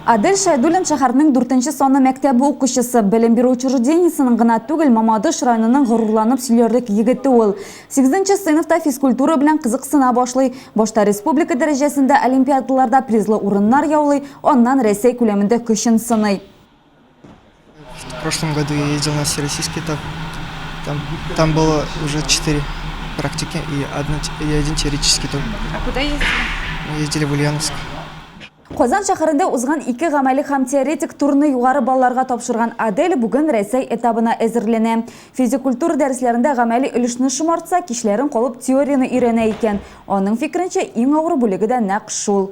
Адель Шәйдуллин шәһәрнең дүртенче саны мәктәбе укучысы, белем бирү учреждениесенең гына түгел, Мамадыш районының горурланып сөйләрлек егете ул. Сигезенче сыйныфта физкультура белән кызыксына башлый. Башта республика дәрәҗәсендә олимпиадаларда призлы урыннар яулый, аннан Рәсәй күләмендә көчен сыный. В прошлом году я ездил на всероссийский этап. Там, там было уже четыре практики и, одна, и один теоретический тур. А куда ездили? Мы ездили в Ульяновск. Казан шәһәрендә узган ике гамәле һәм теоретик турны югары балларга тапшырган Адель бүген Рәсәй этабына әзерләнә. Физик культура дәресләрендә гамәли өлешне шомартса, кичләрен калып теорияне өйрәнә икән. Аның фикеренчә, иң авыр бүлеге дә нәкъ шул.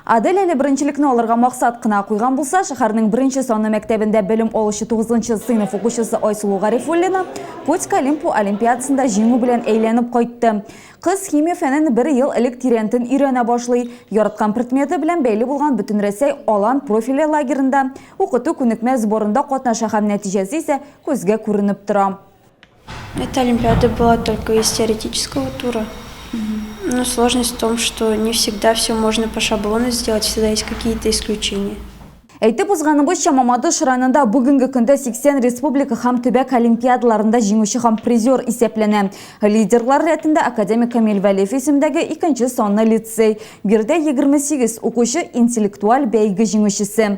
Адель әле беренчелекне алырга максат кына куйган булса, шәһәрнең беренче санлы мәктәбендә белем алучы тугызынчы сыйныф укучысы Айсылу Гарифуллина Котька Лимпу олимпиадасында җиңү белән әйләнеп кайтты. Кыз химия фәнен бер ел элек тирәнтен өйрәнә башлый. Яраткан предметы белән бәйле булган Бөтенрәсәй Алан профильле лагеренда, укыту-күнекмә сборында катнаша һәм нәтиҗәсе исә күзгә күренеп тора. Это олимпиада была только из теоретического тура. Но сложность в том, что не всегда все можно по шаблону сделать, всегда есть какие-то исключения. Әйтеп узганыбызча, Мамадыш районында бүгенге көндә 80 республика һәм төбәк олимпиадаларында җиңүче һәм призер исәпләнә. Лидерлар рәтендә академик Камил Вәлиев исемдәге икенче санлы лицей. Биредә 28 укучы интеллектуаль бәйге җиңүчесе.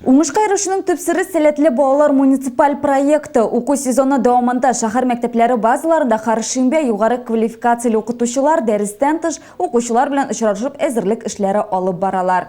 Уңышка ирешүнең төп сере Сәләтле балалар муниципаль проекты. Уку сезоны дәвамында шәһәр мәктәпләре базаларында һәршимбә югары квалификацияле укытучылар, дәрестән тыш, укучылар белән очрашып әзерлек эшләре алып баралар.